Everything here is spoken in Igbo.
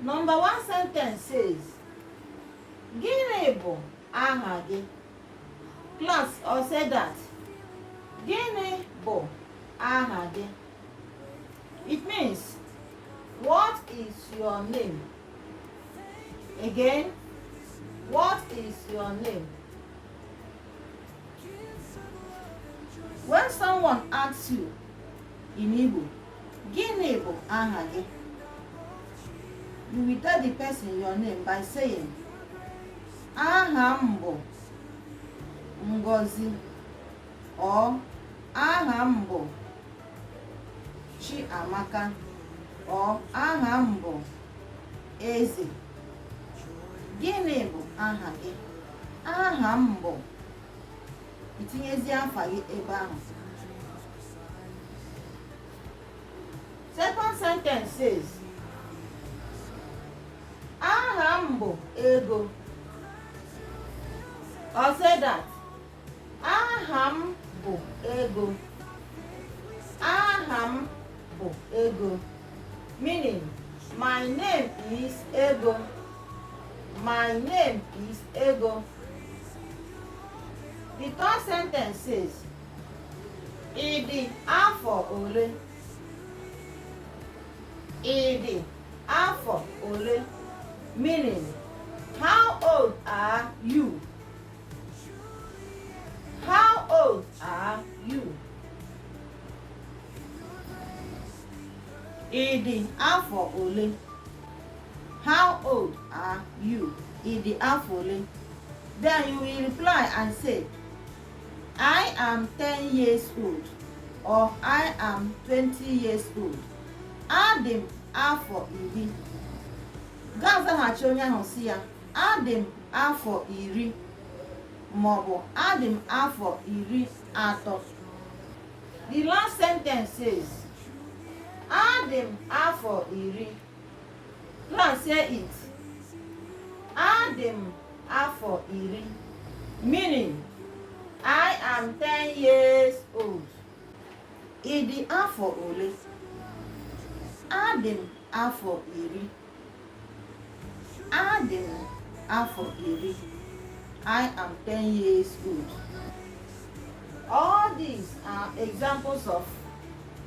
Number one sentence says, Gịnị bụ aha gị? Class or say that. Gịnị bụ aha gị? It means, what is your name? Again, what is your name? When someone asks you in Igbo, Gịnị bụ aha gị? You will tell the person your name by saying, Aha m bụ Ngozi or aha m bụ Chiamaka or aha m bụ Eze. Gịnị bụ aha gị? Aha m bụ i tinyezie afa gị ebe ahụ. Second sentence says, aha m bụ Ego. Say that, aha m bụ Ego. Aha m bụ Ego. Meaning, my name is Ego. My name is Ego. The third sentence says, Ị dị afọ ole? Ị dị afọ ole? Meaning, how old are you? How old are you? Ị dị afọ ole? How old are you? Ị dị afọ ole? Then you will reply and say, I am 10 years old or I am 20 years old. Adị m afọ iri. Ga-azaghachi onye ahụ sị ya, adị m afọ iri maọbụ adị m afọ iri atọ. The last sentence says, adị m afọ iri. Translate it. Adị m afọ iri. Meaning, I am 10 years old. Ị dị afọ ole? Adị m afọ iri. Adị m afọ iri. I am 10 years old. All these are examples of